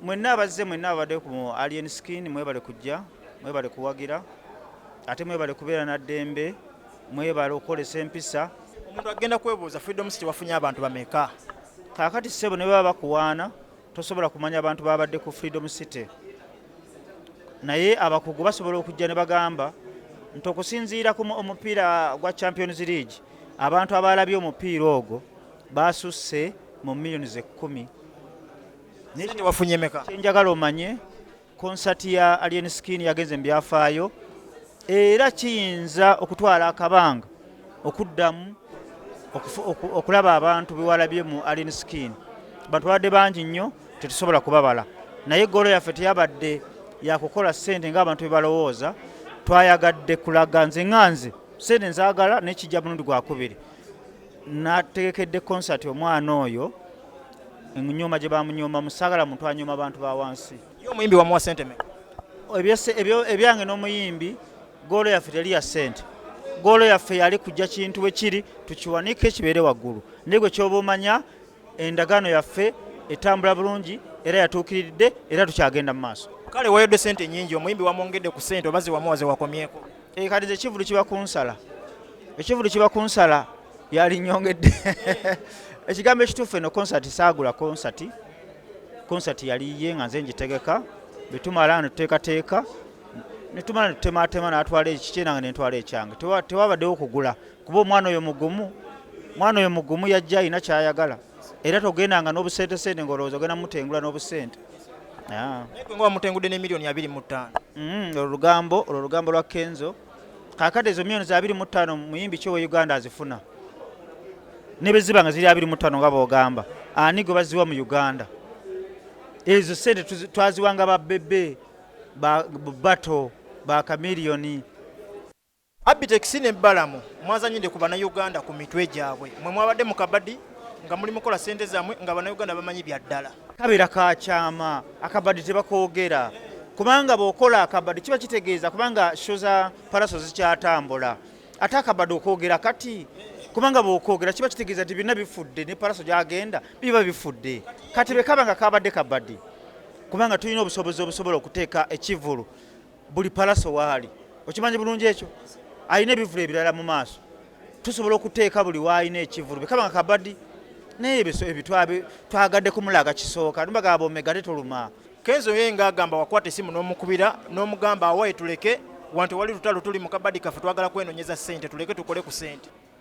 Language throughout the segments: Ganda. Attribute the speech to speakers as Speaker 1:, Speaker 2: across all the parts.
Speaker 1: Mwenna abazze mwenna ababadde ku Alien Skin mwebale kujja, mwebale kuwagira ate mwebale kubeera na ddembe, mwebale okukolesa empisa. Omuntu agenda
Speaker 2: kwebuuza Freedom City wafunye abantu bameka? Kaakati ssebo
Speaker 1: ne baba bakuwaana tosobola kumanya abantu babadde ku Freedom City, naye abakugu basobola okujja ne bagamba nti okusinziira ku omupiira gwa Champions League abantu abaalabye omupiira ogwo baasusse mu millions ekkumi.
Speaker 2: Sente wafunye meka? Kyenjagala omanye
Speaker 1: konsati ya Alien Skin yagenze mu byafaayo era kiyinza okutwala akabanga okuddamu okulaba abantu bewalabye mu Alien Skin. Bantu babadde bangi nnyo tetusobola kubabala, naye golo yaffe teyabadde yakukola sente ng'abantu bebalowooza. Twayagadde kulaga nze nga nze sente nzagala nekijja mulundi gwakubiri. nategekedde concert omwana oyo emunyoma gye bamunyoma musagala muntu anyoma abantu ba wansi yo omuyimbi wamuwa sente
Speaker 2: me
Speaker 1: ebyange n'omuyimbi goolo yaffe teli ya sente goolo yaffe yali kujja kintu bwe kiri tukiwanike kibeere waggulu naye gwe kyoba omanya endagaano yaffe etambula bulungi era yatuukiridde era tukyagenda mu maaso kale wayodde sente
Speaker 2: nyingi omuyimbi wamwongedde ku sente oba zewamuwa zewakomyeko Eh, kati nze kivulu
Speaker 1: kiba kunsala ekivulu kiba kunsala yalinyongedde ekigambo ekituufu eno konsati saagula konsati konsati yali ye nga nze ngitegeka betumala netuteekateeka netumala netutematema natwala ekikye nange nentwala ekyange tewabaddewo okugula kuba omwana oyo mugumu omwana oyo mugumu yajja alina kyayagala era togendanga n'obusentesente ng'olowooza ogenda mutengula n'obusente ah.
Speaker 2: nga wamutengudde ne miliyoni abiri mu ttaano mm, olwo lugambo olwo
Speaker 1: lugambo lwa kenzo kakade ezo miliyoni za abiri mu ttaano muyimbi ki owe uganda azifuna ne bwe ziba nga ziri abiri mu ttaano nga boogamba ani gwe baziwa mu uganda ezo sente twaziwanga ba bebe bato ba kamiliyoni
Speaker 2: Abitex ne Balamu mwazanyide ku banauganda ku mitwe gyabwe. Mwe mwabadde mu kabadi nga muli mukola sente zamwe nga banauganda bamanyi bya ddala. Kabera ka kyama
Speaker 1: akabadi tebakogera kubanga bwokola akabadi kiba kitegeeza kubanga sho za palaso zikyatambula ate akabadi okwogera kati kubanga bwokwogera kiba kitegeeza nti byonna bifudde ne palaso gyagenda biba bifudde kati bwekaba nga kabadde kabadi kubanga tulina obusobozi obusobola okuteeka ekivulu buli palaso waali okimanyi bulungi ekyo alina ebivulu ebirala mu maaso tusobola okuteeka buli waalina ekivulu bwekaba nga kabadi naye ebitwabe twagadde kumulaga kisooka nbagamba omega tetuluma kenzo ye nga
Speaker 2: agamba wakwata esimu n'omukubira n'omugamba awaye tuleke wanti wali lutalo tuli mu kabadi kaffe twagala kwenonyeza sente tuleke tukole ku sente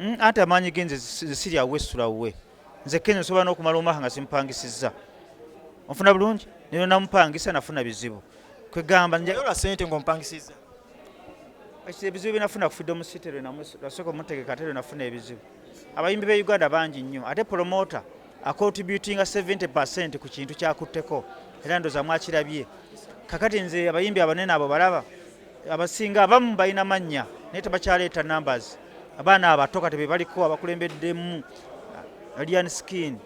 Speaker 2: Mm, anti amaanyi
Speaker 1: ge nze siri awo wesula wuwe nze kenya nsobola n'okumala omwaka nga simupangisizza onfuna bulungi nero namupangisa nafuna bizibu kwegamba njayola sente
Speaker 2: ngaompangisiza
Speaker 1: ebizibu byenafuna ku freedom city lwenasooka omutegeka ate lwenafuna ebizibu abayimbi be uganda bangi nnyo ate promota acontributinga 70 percent ku kintu kyakutteko era ndoza mwakirabye kakati nze abayimbi abanene abo balaba abasinga abamu balina mannya naye tebakyaleeta numbers abaana abato kati bebaliko abakulembeddemu alien skin